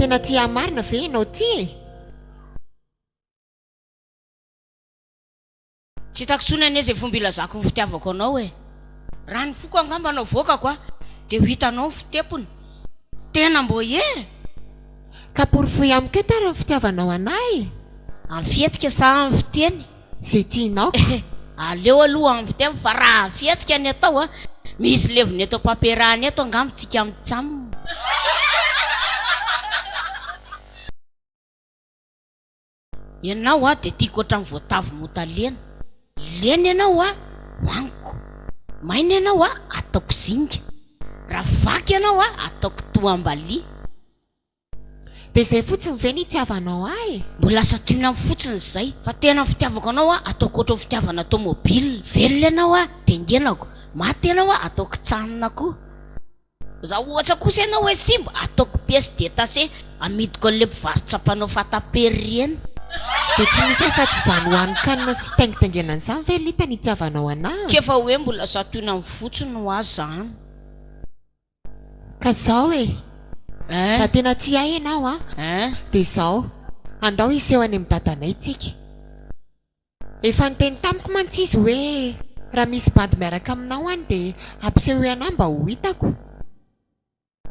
Tena tia marina ve ianao ty e? Tsy hitako intsony anie izay fomba hilazako ny fitiavako anao e. Raha ny foko angamba no avoakako a, dia ho hitanao ny fitepony. Tena mbo e! Ka porofoy amiko eto ary ny fitiavanao anah e! Amin'ny fihetsika sa amin'ny fiteny? ze tianao ka. Eheh aleo aloha ampy teo fa raha fihetsika ny atao a! Misy levona eto am-pampiarahana eto angamba tsika mitsam. Ianao a dia tiako ohatran'ny voatavo motalena. Lena ianao a hohaniko. Maina ianao a ataoko zinga. Raha vaky ianao a ataoko toham-balia. Dia izay fotsiny ve no itiavanao ahy e? Mbola lasa tianao amiko fotsiny izay. Fa tena ny fitiavako anao an, ataoko ohatran'ny fitiavana tomobile. Velona ianao an, dengenako. Maty ianao an, ataoko kitsanona koa. Raha ohatra kosa ianao hoe simba, ataoko pièce détachée, amidiko an'ilay mpivarotra mpanao fatampera ireny. Dia tsy misy afa-tsy izany hohanin-kanina sy taingitaingenana izany ve Lita no itiavanao anah? Tsy efa hoe mbola lasa tohinanao fotsiny hoa izany. Ka zao e! Raha tena tia ahy ianao an! Dia zao, andao hiseho any amin'ny dadanay tsika. Efa niteny tamiko mantsy izy hoe raha misy bandy miaraka aminao any dia ampisehoy anah mba ho hitako.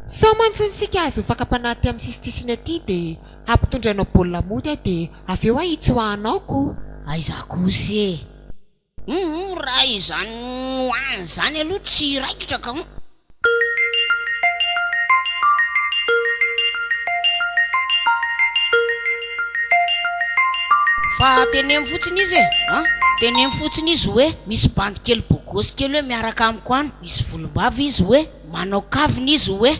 Sao mantsy isika hahazo ny fakam-panahy aty amin'ny sisitisiany aty dia hampitondra anao baolina mody aho dia avy eo hahitsoahanao ko! Aiza kosa e! Humm raha izany noany izany aloha tsy raikitra ka humm. Fa teneno fotsiny izy e a! Teneno fotsiny izy hoe misy bandy kely bogosy kely hoe miaraka amiko any, misy volombava izy hoe manao kavina izy hoe.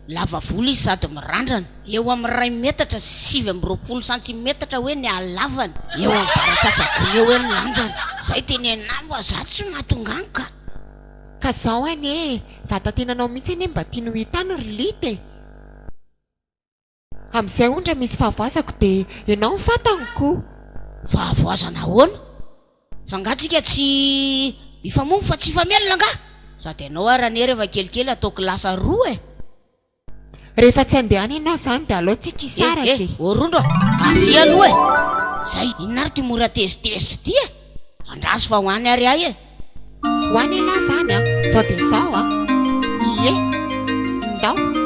Lava volo izy sady mirandrana, eo amin'ny iray metatra sy sivy amby roapolo santimetatra hoe ny halavany, eo amin'ny varatsasagony eo hoe ny lanjany. Zay tenenao mba za tsy mahatonga any ka! Ka zao anie e! Vatatenanao mihitsy anie mba tiany ho hitany ry Lite e! Amin'izay ondry misy fahavoazako dia ianao ny fantany koh! Fahavoazana ahoana? Fa angaha tsika tsy mifamono fa tsy hifamelona angaha? Sady ianao ary anie rehefa kelikely ataoko lasa roa eh! Rehefa tsy andehana ianao izany dia alao tsika hisaraka eh! Eh! Ô rondro a! Avia aloha eh! Zay! Inona ary ity mora tezitezitra ity eh! Andraso fa ho any ary ahy e! Ho any ialahy izany an! Izao dia izao an! Ie! Ndao!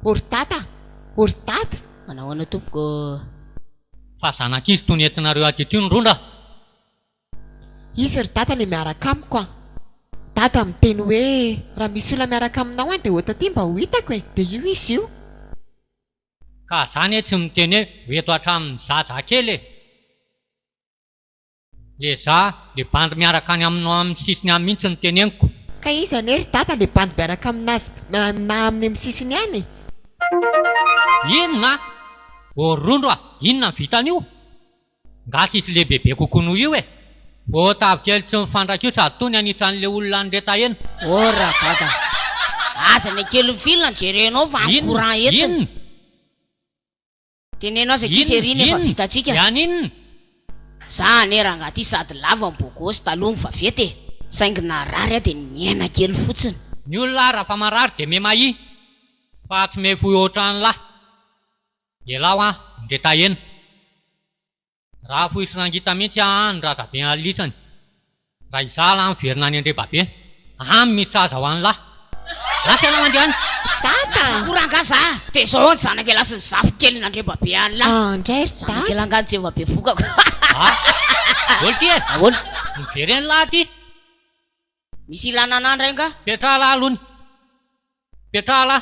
Hortata, Hortat, manao ahoana tompoko ô? Fa zanak'izy tony entinareo aty tony rondra? Izy ry dada le miaraka amiko an! Dada miteny hoe raha misy olona miaraka aminao an dia ota aty mba ho hitako e! Dia io izy io! Ka za anie tsy miteny hoe ho eto hatramin'ny zaza kely e! Le za le bandy miaraka any aminao aminy sisiny any mintsy no teneniko. Ka iza anie ry dada le bandy miaraka aminazy na aminy am sisiny any? Inona? Voarondro a! Inona ny vitan'io? Nga tsy hisy lehibe be kokoa noho io e! Vao tavy kely tsy mifandraika io sady toa ny anisan'le olona nireta eny. Oh ra dada! Aza ny kely fil no jerenao fa any courant eto. Inona? Teneno aza ity serie no efa vita tsika. Iany inona? Za anie rangah ty sady lava ny bogosy taloha ny vaventy e! Saingy narary aho dia niaina kely fotsiny. Ny olona ara fa marary dia memahi fa tsy mefoy otran lah. Ialaho an, ndre taheno. Raha fohy sy rangita mihintsy an raza be alisany raha izalah miverina any andrebabe any misy sahaza ho any lah lasa ianao andriany dada lasa ko rangah za de zao any zanaka elahy sy ny zafy keliny andrebabe any lah ah ndray ry dada zanaka elahy ngah jeva be vokako ah daholo ty e daholo miverena lah ty misy ilana anah ndray ngah petraha lah alony petraha lah.